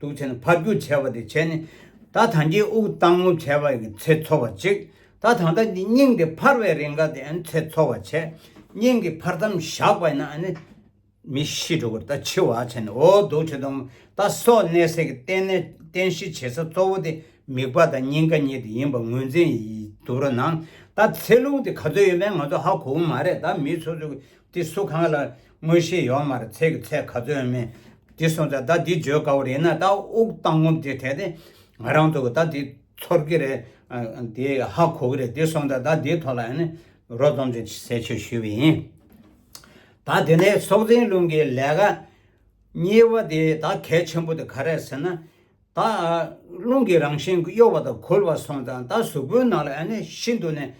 དུག་ཚེ་ནི་ཕར་རྒྱུག་བྱས་པ་དེ་བྱས་ནས། ད་ཐང་ཅིག་དབུགས་གཏང་ངོ་བྱས་པ་ཡིན་ཚེ་ཚོར་བ་གཅིག། ད་ཐང་ད་ཀྱི་སྙིང་དེ་འཕར་བའི་རེས་འགའ་དེ་ཡིན་ཚེ་ཚོར་བ་བྱས། སྙིང་གི་འཕར་མཚམས་བཞག་པ་ཡིན་ན། མི་ཤི་འགྲོ་གི་ད་འཆི་བ་བྱས་ནས་འོ་དུག་ཚེ་དང་ད་སོགས་གནས་ཟས་ཀྱི་རྟེན་ནས་རྟེན་གཞི་བྱེད་ས་གཙོ་བོ་དེ་མིག་པ་དང་སྙིང་ག་གཉིས་དེ་ཡིན་པ་ངོས་འཛིན་དུ་རུ་ནང་ད་ཚེ་རླུང་དེ་ག་ཚོད་ཡོད་མེད་ང་ཚོ་ཧ་གོ་གི་མ་རེད་ད་མི་སོ་སོ་གི་དེ་སུ་གང་ལ་དངོས་གཞི་ཡོག་མར་ཚད་ཀྱི་ཚད་ག་ཚོད་མིན། དེ་སོང་ཙང་ད་འདི་བརྗོད་དཀའ་བོ་རེད་ན་ད་དབུགས་བཏང་ངོམ་དེ་དེ་ནི་ང་རང་ཐོག་གི་ད་འདི་ཚོར་གི་རེད། དེ་ཧ་གོ་གི་རེད་དེ་སོང་ཙང་ད་འདིའི་ཐོག་ལ་ཡང་ནི་རོ་རྩོམ་ཅིག་གསལ་ཆོད་ཞུས་པ་ཡིན། ད་དེ་ནས་སྲོག་འཛིན་རླུང་གི་ལས་ཀ་གཉིས་པ་དེ་ད་གལ་ཆེན་པོ་དེ་ག་རེད་ཟེར་ན། ད་རླུང་གི་རང་བཞིན་གཡོ་བ་དང་འཁོལ་བ་སོང་ཙང་ད་གཟུགས་པོའི་ནང་ལ་ཤིན་ཏུ་ནས་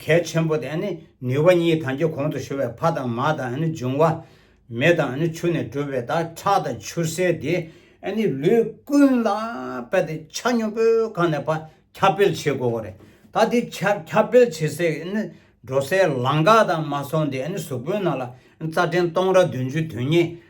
གལ་ཆེན་པོ་དེ་ནུས་པ་གཉིས་དང་གྱི་གོང་དུ་ཞུ་བའི་ཕ་དང་མ་དང་འབྱུང་བ་མེ་དང་ཆུ་ནས་གྲུབ་པའི་ད་ཁྲག་དང་ཆུ་སེར་དེ་ལུས་ཀུན་ལ་པད་དེ་ཆ་སྙོམས་པོའི་གང་ནས་པ་ཁྱབ་སྤེལ་བྱེད་དགོས་བ་རེད་ད་དེ་ཁྱབ་སྤེལ་བྱེད་སའི་འགྲོ་སའི་ལང་ཀ་དང་མ་སོང་དེ་གཟུགས་པོའི་ནང་ལ་རྩ་ཕྲན་སྟོང་ར་བདུན་ཅུ་དོན་གཉིས།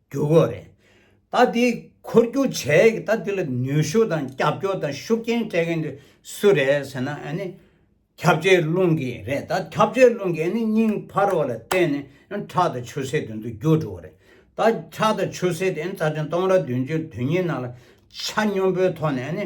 འགྱུར་དགོས་རེད། ད་དེ་འཁོར་རྒྱུག་བྱས་ཀྱི་ད་དེ་ལ་ནུས་ཤུགས་དང་རྒྱབ་སྐྱོར་དང་ཤུགས་རྐྱེན་སྤྲད་མཁན་དེ་སུ་རེད་ཟེར་ན་ཨ་ནི། ཁྱབ་བྱའི་རླུང་གིས་རེད་ད་ཁྱབ་བྱའི་རླུང་གིས་ཨ་ནི་སྙིང་འཕར་བ་ལ་བརྟེན་ནས་ཁྲག་དང་ཆུ་སེར་དེ་ཚོ་རྒྱུག་འགྲོ་བ་རེད། ད་ཁྲག་དང་ཆུ་སེར་དེ་རྩ་ཕྲན་སྟོང་ར་བདུན་ཅུ་དུས་གཉིས་ནང་ལ་ཆ་སྙོམས་པོའི་ཐོག་ནས་ཨ་ནི།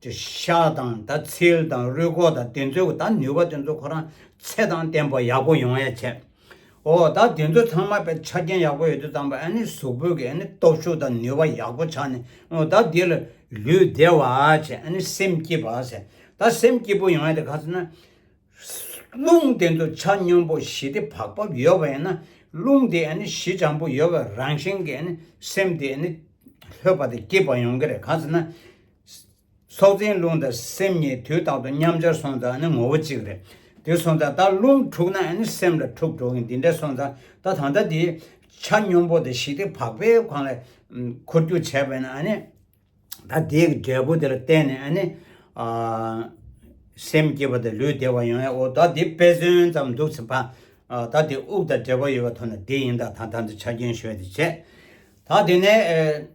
དེ་ཤ་དང་ད་ཚིལ་དང་རུས་སྐོགས་དང་དེ་ཚོའི་ད་ནུས་པ་དེ་ཚོ་ཁོ་རང་ཚེ་དང་བརྟན་པོ་ཡག་པོ་ཡོང་ཡ་བྱས། ཨོ་ད་དེ་ཚོ་ཚང་མ་པའི་ཆ་རྐྱེན་ཡག་པོ་ཡོད་དུས་ཙམ་པ་ཨ་ནི་གཟུགས་པོད་ཀྱི་ཨ་ནི་སྟོབས་ཤུགས་དང་ནུས་པ་ཡག་པོ་ཆགས་ནས་ཨོ་ད་དེ་ལ་ལུས་བདེ་བ་བྱས་ཨ་ནི་སེམས་སྐྱིད་པ་བྱས་ད་སེམས་སྐྱིད་པོ་ཡོང་ཡ་དེ་ག་ཚོད་ན། རླུང་དེ་ཚོ་ཆ་སྙོམས་པོ་ཞི་བདེ་བག་ཕབ་ཡོད་པ་ཡིན་ན་རླུང་དེ་ཨ་ནི་གཞི་བྱང་པོ་ཡོད་པ་རང་བཞིན་གྱི་ཨ་ནི་སེམས་དེ་ཨ་ནི་ལྷོད་པ་དང་སྐྱིད་པ་ཡོང་གི་རེད་ག་ཚོད་ན། སྲོག་འཛིན་རླུང་དང་སེམས་གཉིས་དུས་རྟག་ཏུ་མཉམ་སྦྱར་སོང་ཙང་ནི་ངོ་བོ་གཅིག་རེད། དེ་སོང་ཙང་ད་རླུང་འཁྲུགས་ན་སེམས་ལ་འཁྲུགས་འགྲོ་གིན་འདི་འདྲ་སོང་ཙང་ད་ད་ལྟ་དེ་ཆ་སྙོམས་པོ་དང་ཞི་བདེ་བག་ཕེབས་གང་ལ་འཁོར་རྒྱུག་བྱས་པས་ན་ད་དེའི་འབྲས་བུ་དེ་ལ་བརྟེན་ནས་སེམས་སྐྱིད་པ་དང་ལུས་བདེ་བ་ཡོང་ཡ་འོ་ད་དེ་དཔེ་མཚོན་ཙམ་འདུག་ཚེ་ཕ། ད་དེ་དབུགས་དང་འབྲེལ་བ་ཡོད་པ་ཐོན་ན་བདེ་ཡིན་ད་ད་ད་འདི་ཆ་རྐྱེན་ཞོལ་དེ་བྱས། ད་དེ་ནས།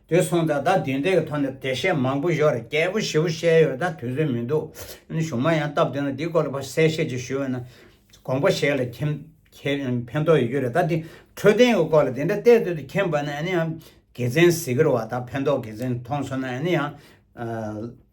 དུས་སོང་ད་ལྟ་དུས་འདས་ཀྱི་ཐོག་ནས་དེ་བཤད་མང་པོ་ཞོར་རྒྱལ་པོ་བཞི་བོ་བཤད་ཡོད་ད་དུས་ཚོད་མི་འདུག་ཡིན་གཞུང་མ་ཡང་སྟབས་བདེ་ན་འདི་སྐོར་ལ་ཕར་གསལ་བཤད་ཅིག་ཞུས་བས་ན། དགོངས་པ་ཞེས་ལ་ཁྱིམ། ཕན་ཐོག་ཡོད་རྒྱུ་རེད་ད་དེ་འཕྲོད་བསྟེན་གྱི་སྐོར་ལ་དེ་འདྲ་བལྟས་དོད་དུ་ཁྱིམ་བ་ན་ཡང། དགེ་མཚན་གཟིགས་རོགས་ད་ཕན་ཐོག་དགེ་མཚན་མཐོང་སོང་ན་ཡང།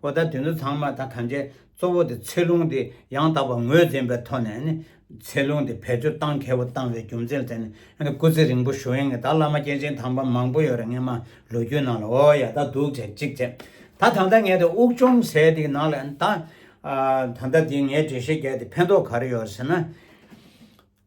པོ་དང་དེ་ཚོ་ཚང་མ་ད་གང་ཆེ་གཙོ་བོ་དེ་ཚད་ལུང་དེ་ཡང་དག་པར་ངོས་འཛིན་པའི་ཐོག་ནས་ནི་ཚད་ལུང་དེ་བེད་སྤྱོད་གཏང་མཁས་པོ་བཏང་བའི་རྒྱུ་མཚན་དེ་ནི་སྐུ་ཚེ་རིང་པོ་ཞུ་ཡིན་གི་ད་བླ་མ་སྐྱེས་ཆེན་དམ་པ་མང་པོ་ཡོད་རེད་ངས་མ་ལོ་རྒྱུས་ནང་ལ་འོ་ཡ་ད་འདུག་བྱས་གཅིག་བྱས་ད་ད་ལྟ་ངས་དེ་དབུགས་ཅུང་ཟད་དེ་ནང་ལ་ད་ད་ལྟ་དེ་ངས་འགྲེལ་བཤད་བརྒྱབ་དེ་ཕན་ཐོག་ག་རེ་ཡོད་ཟེར་ན།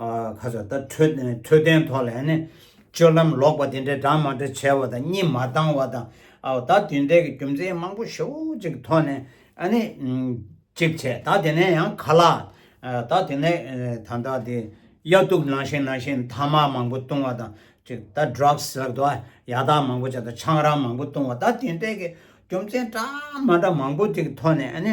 ཁ་ཟས་ལྟར་འཕྲོད་ནས་འཕྲོད་བསྟེན་ཐོག་ལ་ཡང་ནི་སྤྱོད་ལམ་ལོག་པ་དེ་འདྲའི་སྦྲགས་མ་འདྲ་བྱས་བ་དང་གཉིད་མ་བཏང་བ་དང་ད་དེ་འདྲའི་གི་རྒྱུ་མཚན་མང་པོ་ཞེ་བོ་ཅིག་ཐོག་ནས་ཨ་ནི་ཅིག་བྱས་ད་དེ་ནས་ཡང་ག་ལ་ད་དེ་ནས་ད་ད་དེ་དབྱར་དུག་ནང་བཞིན་ནང་བཞིན་ཐ་མག་མང་པོ་བཏུང་བ་དང་ཅིག་ད Drugs ལབ་ད་ཡག་དག་མང་པོ་བྱས་ད་ཆང་རག་མང་པོ་བཏུང་བ་ད་དེ་འདྲའི་གི་རྒྱུ་མཚན་སྦྲགས་མ་འདྲ་མང་པོ་ཅིག་ཐོག་ནས་ཨ་ནི།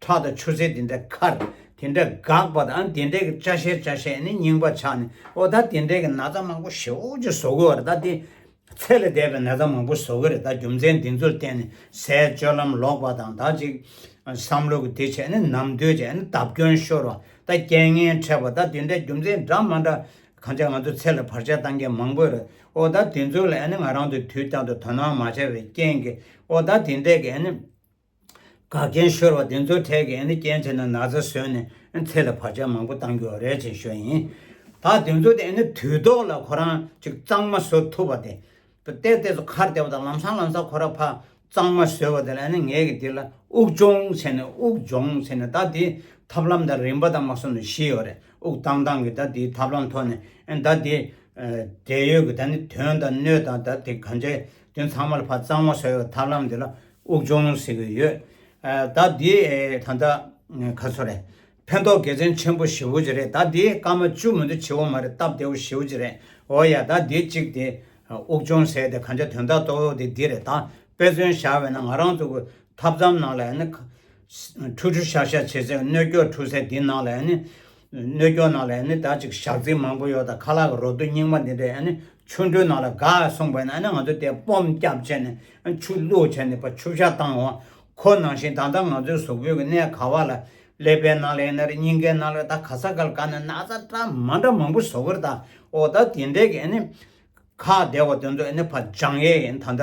ཁྲག་དང་ཆུ་སེར་དེ་འདྲ་ཁར་དེ་འདྲ་འགགས་པ་དང་དེ་འདྲའི་ཅག་ཤེས་ཅག་ཤེས་ནི་རྙིང་པ་ཆགས་ནས་ཨོ་ད་དེ་འདྲའི་ནགས་རྩྭ་མང་པོ་ཞེ་འོག་ཅིག་བཟོ་དགོས་བ་རེད་ད་དེ་ཚད་ལས་འདས་པའི་ནགས་རྩྭ་མང་པོ་བཟོ་གི་རེད་ད་རྒྱུ་མཚན་འདི་ཚོར་བརྟེན་ནས་ཟས་སྤྱོད་ལམ་ལོག་པ་དང་ད་ཅིག་བསམ་བློ་གི་དེ་བྱས་ནས་ནམ་དུས་བྱས་ནས་བརྡབ་སྐྱོན་ཤོར་བ་ད་རྐྱེན་ངན་འཕྲད་པ་ད་དེ་འདྲའི་རྒྱུ་མཚན་འདྲ་མ་འདྲ་གང་ཅག་ང་ཚོ་ཚད་ལས་བར་ཆད་བཏང་མཁན་མང་པོ་རེད་ཨོ་ད་དེ་ཚོ་ལ་ང་རང་ཚོས་དུས་གཏན་དུ་དོ་སྣང་མ་བྱས་པའི་རྐྱེན་གྱིས་ཨོ་ད་དེ་འདྲའི་དགའ་རྒན་ཤོར་བ་དེ་ཚོའི་གྲས་ཀྱི་སྐྱེན་ཆེན་ནང་ན་ཚ་བཟོས་ནས་ཚེ་ལ་བར་ཆད་མང་པོ་བཏང་རྒྱུ་རེད་ཅེས་ཤོད་ཡིན། ད་དེ་ཚོ་དེ་དུས་ཐོག་ལ་ཁོ་རང་ཅིག་གཙང་མ་བཟོ་ཐུབ་པ་དེ། བལྟས་བལྟས་སུ་ཁར་བལྟས་པ་དང་ལམ་སང་ལམ་སང་ཁོ་རང་ཕ་གཙང་མ་བཟོས་བ་དེ་ལ་ངས་ཀྱི་དེ་ལ་དབུགས་སྦྱོང་བྱས་ནས་དབུགས་སྦྱོང་བྱས་ནས་ད་དེའི་ཐབས་ལམ་དང་རིམ་པ་དང་མ་སོ་ནི་ཤེས་ཡོད་རེད་དབུགས་བཏང་བཏང་གི་ད་དེའི་ཐབས་ལམ་ཐོག་ནས་ད་དེའི་འབྲེལ་ཡོད་ཀྱི་ད་ནི་དོན་དང་སྣོད་དང་ད་དེ་གང་ཅའི་དོན་ཚང་མ་ལ་ཕ་གཙང་མ་བཟོས་བའི་ཐབས་ལམ་དེ་ལ་དབུགས་འབྱུང་ཟེར་གྱི་ཡོད། ཟླ་འདིའི་ད་ལྟ་ག་ཚོད་རེད། ཕན་ཐོགས་དགེ་མཚན་ཆེན་པོ་ཞེ་བོ་གཅིག་རེད་ཟླ་འདིའི་སྐར་མ་བཅུ་མི་འདུག་བྱེའུ་མ་རེད་སྟབས་བདེ་བོ་ཞེ་བོ་གཅིག་རེད་འོ་ཡ་ཟླ་འདི་གཅིག་དེ། དབུགས་འབྱུང་ཟེར་དེ་གང་ཆ་དོན་དག་ཏོག་ཡོག་དེ་འདི་རེད་ད་དཔེ་མཚོན་བཞག་བས་ན་ང་རང་ཚོ་གི་ཐབ་མཚམས་ནང་ལ་ཡང་ནི། ཁྲུ་ཁྲུ་ཤག་ཤག་བྱེད་ཚད་སྣོད་སྐྱོག་འཁྲུ་ཚད་དེ་ནང་ལ་ཡང་ནི། སྣོད་སྐྱོག་ནང་ལ་ཡང་ནི་ད་ཅིག་ཞག་རྩིག་མང་པོ་ཡོག་དང་ཁ་ལག་གི་རོ་དུག་རྙིང་མ་འདི་འདྲ་ཡང་ནི། ཆུ་འགྲོའི་ནང་ལ་དགའ་གསུངས་པས་ན་ང་ཚོ་དེ་སྤོམ་སྐྱབས་བྱས་ནས་ཆུ་བླུགས་བྱས་ནས་ཆུ་བྱ་བཏང་བ་ཁོ་ནང་བཞིན་ད་ལྟ་ང་ཚོའི་གཟུགས་པོའི་གནས་ག་བ་ལ་ཀླད་པའི་ནང་ལ་ཡིན་ན་རེ་སྙིང་གའི་ནང་ལ་ད་ག་ས་གལ་ག་ནས་ན་ཚ་དྲ་མ་འདྲ་མང་པོ་བཟོ་གིར་ད་འོ་ད་དེ་འདྲས་ཀྱི་ཨ་ནི་ཁ་བདེ་བ་དེ་ཚོ་ཨ་ནི་བ་ལྗང་ཡེ་ཡིན་ད་ད།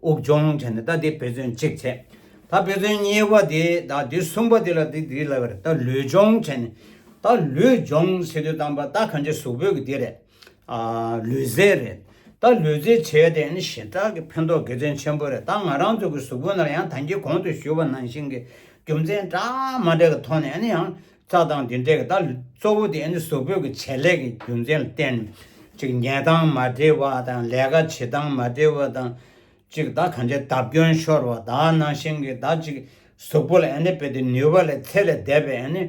དབུགས་སྦྱོང་བྱས་ནས་ད་དེ་བེ་ཙོན་གཅིག་བྱས། ད་བེ་ཙོན་གཉིས་པ་དེ་ད་དེ་གསུམ་པ་དེ་ལ་དེ་དེ་ལ་བར་ད་ལུས་སྦྱོང་བྱས་ནས། ད་ལུས་སྦྱོང་བྱེད་དུ་བཏང་པ་ད་གང་ཅི་གཟུགས་བོད་ཀྱི་དེ་རེད། ལུས་རྫས་རེད། ད་ལུས་རྫས་བྱས་ཏེ་ནི་ཞེ་དྲག་གི་ཕན་ཐོགས་དགེ་མཚན་ཆེན་པོ་རེད་ད་ང་རང་ཚོ་གི་གཟུགས་བོད་ན་ཡང་ད་ཁྱེད་གོང་དུ་ཞུས་པ་ནང་བཞིན་གྱི་རྒྱུ་མཚན་གྲངས་མ་འདྲ་གི་ཐོག་ནས་ཡང་རྩྭ་ཐང་འདི་འདྲའི་ད་གཙོ་བོ་དེ་ནི་གཟུགས་པོད་ཀྱི་བྱེད་ལས་ཀྱི་རྒྱུ་མཚན་ལ་བརྟེན་གཅིག་ཉལ་སྟངས་མ་འབྲེལ་བ་དང་ལས་ཀ་བྱེད་སྟངས་མ་འབྲེལ་བ་དང་གཅིག་ད་གང་ཆེ་བརྡབ་སྐྱོན་ཤོར་བ་དག་ནང་བཞིན་གྱི་ད་གཅིག་གཟུགས་པོ་ལ་ནི་བེད་དེ་ནུས་པ་ལས་ཚད་ལས་འདས་པའི་ནི་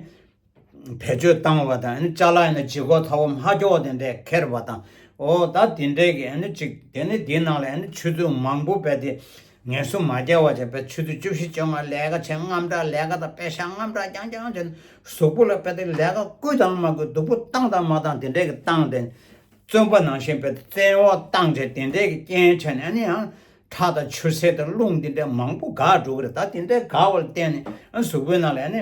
བེད་སྤྱོད་བཏང་བ་དང་ནི་ལྕགས་ལ་ནི་ལྗིད་ཁོག་ཐ་བོ་མ་ཁྱོག་དེ་འདྲས་ཁྱེར་བ་དང་འོ་ད་དེ་འདྲས་ཀྱི་ནི་གཅིག་དེ་ནི་དེའི་ནང་ལ་ནི་ཆུ་ཚོད་མང་པོ་བེད་དེ་ངལ་གསོ་མ་བརྒྱ་བ་བྱས་པའི་ཚུལ་དུ་བཅུ་བཞི་བཅོ་ལྔ་ལས་ཀ་ཆེན་རྔམ་དྲག་ལས་ཀ་དང་དཔེ་ཞྭ་རྔམ་དྲག་རྐྱང་རྐྱང་བྱས་ནས་གཟུགས་པོ་ལ་བལྟས་ཏེ་ལས་ཀ་བསྐུལ་དང་མ་བསྐུལ་སྡུག་པོ་བཏང་དང་མ་བཏང་དེ་འདྲས་ཀྱི་བཏང་སྟེ། བཙོན་པ་ནང་བཞིན་བལྟས་ཏེ་བཙན་འོག་བཏང་བྱས་དེ་འདྲས་ཀྱི་རྐྱེན་བྱས་ནས་ནི་ཡང་ཁྲག་དང་ཆུ་སེར་དང་རླུང་འདི་འདྲས་མང་པོ་འགགས་འགྲོ་གི་རེད་ད་དེ་འདྲས་འགགས་པ་ལ་བརྟེན་ནས་གཟུགས་པོའི་ནང་ལ་ནི་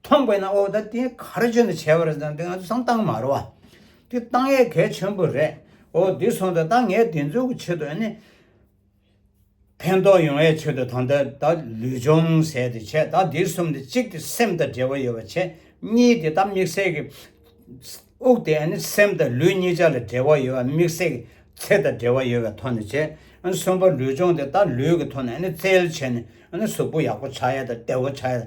མཐོང་པས་ན་ཨོ་ད་དེ་ག་རེ་བྱོན་དུ་བྱས་པ་རེད་བསམ་སྟེ་ང་ཚོ་ཚང་བཏང་མ་རོ། དེ་བཏང་ཡས་གལ་ཆེན་པོ་རེད། ཨོ་དེ་སོང་ད་ད་ངས་དེ་ཚོ་གི་ཆེད་དུ་ཨ་ནི། ཕན་ཐོགས་ཡོང་བའི་ཆེད་དུ་ད་ལྟ་ད་ལུས་སྦྱོང་ཟེར་ཏེ་བྱས་ད་དེ་གསུམ་དེ་གཅིག་དེ་སེམས་དང་འབྲེལ་བ་ཡོད་པ་བྱས། གཉིས་དེ་ད་མིག་སེར་གྱི། དབུགས་དེ་ཨ་ནི་སེམས་དང་ལུས་གཉིས་ཆ་ལ་འབྲེལ་བ་ཡོད་པ་མིག་སེར་གྱི་ཚེ་དང་འབྲེལ་བ་ཡོད་པའི་ཐོག་ནས་བྱས། གསུམ་པ་ལུས་སྦྱོང་དེ་ད་ལུས་ཀྱི་ཐོག་ནས་ཨ་ནི་རྩལ་བྱས་ནས་ཨ་ནི་གཟུགས་པོ་ཡག་པོ་ཆགས་ཡས་དང་བདེ་བོ་ཆགས་ཡས།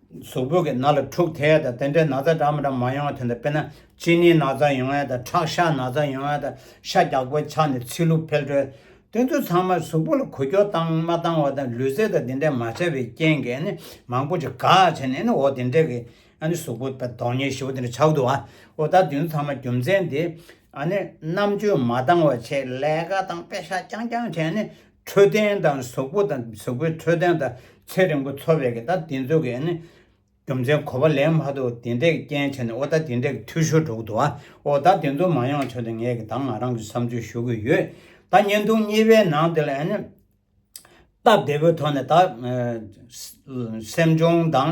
གཟུགས་པོ་གི་ནག་ལ་འཁྲུགས་ཐལ་དང་དེ་འདྲའི་ན་ཚ་འདྲ་མི་འདྲ་མང་ཡོང་བ་དེ་འདྲ་པེ་ན་གཅིན་སྣའི་ན་ཚ་ཡོང་ཡ་དང་ཁྲག་ཤ་ན་ཚ་ཡོང་ཡ་དང་ཤ་རྒྱགས་པོའི་ཆགས་ནས་ཚིལ་ལུ་འཕེལ་འགྲོལ། དེ་ཚོ་ཚང་མ་གཟུགས་པོ་ལ་གོ་རྒྱོ་བཏང་མ་བཏང་བ་དང་ལུས་རྩལ་དང་དེ་འདྲའི་མ་བྱས་པའི་རྐྱེན་གྱིས་ནི་མང་པོ་ཅིག་ག་བྱས་ནས་ནི་འོ་དེ་འདྲའི་གི་ཨ་ནི་གཟུགས་པོ་པ་དོག་ཉེ་ཞི་བོ་དེ་འདྲ་ཆགས་འདུག་ཨ་འོ་ད་དེ་ཚོ་ཚང་མ་རྒྱུ་མཚན་དེ་ཨ་ནི་རྣམ་དཔྱོད་མ་བཏང་བ་ཆེད་ལས་ཀ་དང་པེ་ཤ་རྐྱང་རྐྱང་བྱས་ནས་འཕྲོད་བསྟེན་དང་གཟུགས་པོ་དང་གཟུགས་པོའི་འཕྲོད་བསྟེན་དང་ཚེ་རིང་པོ་འཚོ་བའི་གི་ད་དེ་ཚོ་གི་ནི་རྒྱུ་མཚན་གོ་བ་ལེན་མ་ཐུབ་དེ་འདྲས་རྐྱེན་བྱས་ནས་ཨོ་ད་དེ་འདྲས་གི་འཐུས་ཤོར་འགྲོ་གི་འདུག་ཨ་ཨོ་ད་དེ་ཚོ་མ་ཡོང་ཆོག་དེ་ངས་གི་ད་ང་རང་གི་བསམ་ཚུལ་ཞུ་གི་ཡོད་ད་བརྙན་ཐུང་གཉིས་པའི་ནང་དེ་ལ་ཡ་ནི་སྟབས་བདེ་པོའི་ཐོག་ནས་ད། སེམས་ཆུང་དང་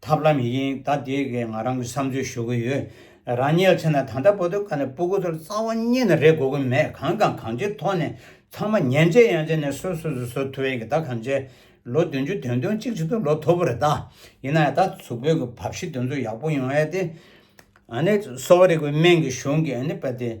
ཐབས་ལམ་ཡིན་ད་དེའི་གེ་ང་རང་གི་བསམ་ཚུལ་ཞུ་གི་ཡོད་རང་ཉལ་ཚེ་ན་ད་ལྟ་བོ་དོ་ཁ་ནས་སྤུ་གུ་ཚོར་རྩ་བ་གཉིས་ནས་རེ་གོ་གི་མེད་གང་དང་གང་ཅིའི་ཐོག་ནས་ཚང་མ་ཉན་ཚེ་ཡང་ཚེ་ནས་སོ་སོ་སོ་སོ་ཐུ་བའི་གི་ད་གམ་ཚེ་ལོ་བདུན་ཅུ་དོན་དོན་གཅིག་གཅིག་ཏུ་ལོ་ཐོབ་པོ་རེ་ད་ཡིན་ན་ཡང་ད་ཚུགས་བོད་གི་བབ་ཞི་དོན་ཚུགས་ཡག་པོ་ཡོང་ཡ་དེ་ཨ་ནི་གསོ་བ་རིག་པའི་སྨན་གི་གཞུང་གི་ཨ་ནི་པ་དེ།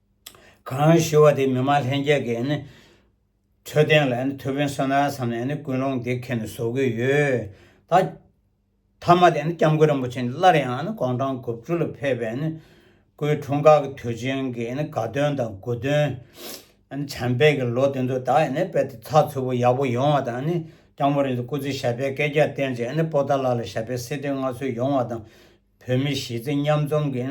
གང་ཞུ་བ་དེ་མི་མང་ལྷན་རྒྱས་ཀྱི་འཕྲོད་བསྟེན་ལ་མཐུ་དཔོན་བསོད་ནམས་བསམ་ནས་ཀུན་སློང་འདི་ཁྱེད་ནས་བཟོ་དགོས་ཡོད། མཐའ་མ་དེ་སྐྱབས་མགོན་རིན་པོ་ཆེ་སླར་ཡང་གོང་ཁྲང་དགུ་བཅུ་ལ་ཕེབས་པའི་སྐུའི་འཁྲུངས་སྐར་གྱི་དུས་ཆེན་གྱི་དགའ་སྟོན་དང་དགུ་སྟོན། བྱམས་པས་ཀྱི་ལོ་དེ་ཚོ་དག་དཔལ་དེ་ཚགས་ཚུད་པོ་ཡག་པོ་ཡོང་བ་དང་སྐྱབས་མགོན་རིན་ཆེ་སྐུ་ཚེ་ཞབས་པད་བསྐལ་བརྒྱར་བརྟན་ཅིང་སྤོ་ད་ལགས་ལ་ཞབས་པད་སྲིད་དོན་མངའ་ཚུལ་ཡོང་བ་དང་བོད་མི་གཞིས་རྩེ་མཉམ་འཛོམས་ཀྱི་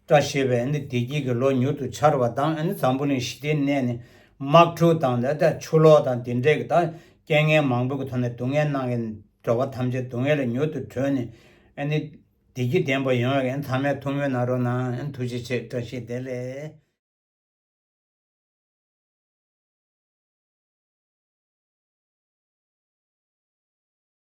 བཀྲ་ཤིས་པའི་བདེ་སྐྱིད་ཀྱི་ལོ་མྱུར་དུ་འཆར་བ་དང་འཛམ་བུ་གླིང་ཞི་བདེའི་གནས་ནས་དམག་འཁྲུག་དང་ཆུ་ལོག་དང་དེ་འདྲས་ཀྱི་རྐྱེན་ངན་མང་པོའི་ཐོག་ནས་སྡུག་བསྔལ་སྣང་གི་འགྲོ་བ་ཐམས་ཅད་སྡུག་བསྔལ་ལས་མྱུར་དུ་གྲོལ་ནས་བདེ་སྐྱིད་ལྡན་པ་ཡོང་བའི་མཐའ་མའི་ཐུགས་སྨོན་གནང་རོགས་གནང་ཐུགས་རྗེ་ཆེ་བཀྲ་ཤིས་བདེ་ལེགས།